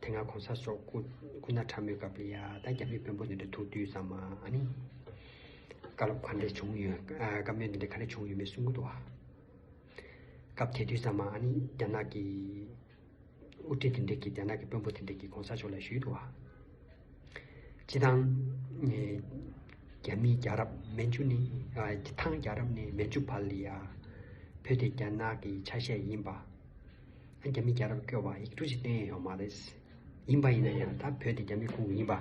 དེ་སྔ་གོང་ས་སོགས་སྐུ་སྐུ་ན་ཕྲ་མོའི་སྐབས་ལ་ཡ་ད་རྒྱ་མི་དཔོན་པོ་འདི་འདྲ་ཐུག་དུས་ཙམ་མ་ནི། བཀའ་སློབ་ག་འདྲས་བྱུང་ཡོད་བཀའ་མོལ་འདི་འདྲས་ག་འདྲས་བྱུང་ཡོད་མེད་གསུང་གི་འདུག་བ། སྐབས་དེ་དུས་ཙམ་མ་ནི་རྒྱ་ནག་གི་དབུ་ཁྲིད་དེ་འདྲས་ཀྱིས་རྒྱ་ནག་གི་དཔོན་པོ་དེ་འདྲས་ཀྱིས་གོང་ས་མཆོག་ལ་ཞུས་འདུག་བ། སྤྱི་ཐང། རྒྱ་མི་རྒྱ་རབ་མན་ཇུ་ནི་སྤྱི་ཐང་རྒྱ་རབ་ནི་མན་ཇུ་བར་ལ་ཡ། བོད་དེ་རྒྱ་ནག་གི་ཆ་ཤས་ཡིན་པ། རྒྱ་མི་རྒྱ་རབས་སྐྱོ་བ་ཡིག་འབྲུ་ཞིག་བསྟན་ཡས་ཡོག་མ་རེད། ཡིན་པ་ཡིན་ན་ཡང་ད་བོད་དེ་རྒྱ་མི་ཁུངས་ཡིན་པ།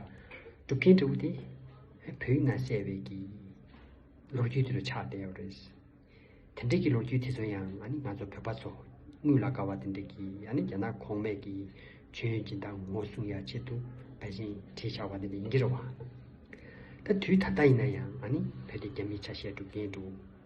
སྒྲུབ་མཁན་འདྲ་བོ་དེ། བོད་ཡིན་ན་བསད་བས་ཀྱི། ལོ་རྒྱུས་དེ་རུ་ཆགས་བསྡད་ཡོག་རེད། དེ་འདྲས་ཀྱི་ལོ་རྒྱུས་དེ་ཚོ་ཡང་ང་ནི་ང་ཚོ་བོད་པ་ཚོ། དངུལ་ལ་དགའ་བ་དེ་འདྲས་ཀྱི་ཡང་ནི་རྒྱ་ནག་གོང་མས་ཀྱི་མཆོད་ཡོན་སྦྱིན་སྟངས་ངོ་སྲུང་ཡག་ཆེད་དུ་བལ་ཞེན་བྲིས་ཆགས་པ་དེ་འདྲས་ཡིན་གྱི་རེད་བ། ད་དུས་ད་ལྟ་ཡིན་ན་ཡང་ང་ནི་བོད་དེ་རྒྱ་མིའི་ཆ་ཤས་སྒྲུབ་མཁན་འདྲ་བོ།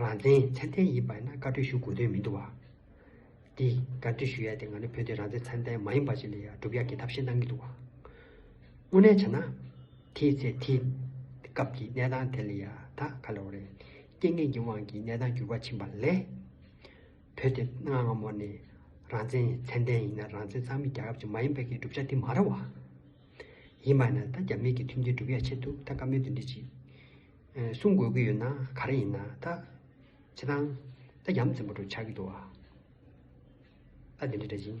རང་བཙན་མཚན་ལྡན་ཡིན་པ་ཡིན་ན་བཀའ་ཁྲོལ་ཞུ་དགོས་དོན་མི་འདུག་བ། འདི་བཀའ་ཁྲོལ་ཞུ་ཡ་དེ་ང་ནི་བོད་དེ་རང་བཙན་མཚན་ལྡན་མ་ཡིན་པ་ཞིག་ལ་ཡ་སྒྲུབ་ཡ་གི་ཐབས་ཤེས་གནང་གི་འདུག་བ། དངོས་གནས་བྱས་ན། དེའི་ཚེ་དེའི་སྐབས་ཀྱི་གནས་སྟངས་དེ་ལ་ཡ་ད་ག་ལེ་བ་རེད། རྐྱེན་ངན་གྱི་དབང་གིས་གནས་སྟངས་འགྱུར་བ་ཕྱིན་པ་ལས། བོད་དེ་སྔ་སྔ་མོ་ནས་རང་བཙན་མཚན་ལྡན་ཡིན་ན་རང་བཙན་གཙང་མའི་རྒྱལ་ཁབ་ཅིག་མ་ཡིན་པ་གི་སྒྲུབ་བྱ་དེ་མ་རེད་བ། ཡིན་པ་ཡིན་ན་ད་རྒྱ་མི་གི་མཐུན་རྐྱེན་སྒྲུབ་ཡ་ཆེད་དུ་ད་བཀའ་མོལ་དེ་འདྲི་ཅིག། གསུང་དགོས་ཀྱི་ཡོད་ན་ག་རེ་ཡིན་ན་ད། བྱེད་སྟངས། ད་ཡམ་ཙེ་མོ་དྲོ་ཆགས་ཀྱི་འདུག་བ། ད་འདི་འདྲ་འདྲ་ཅིང།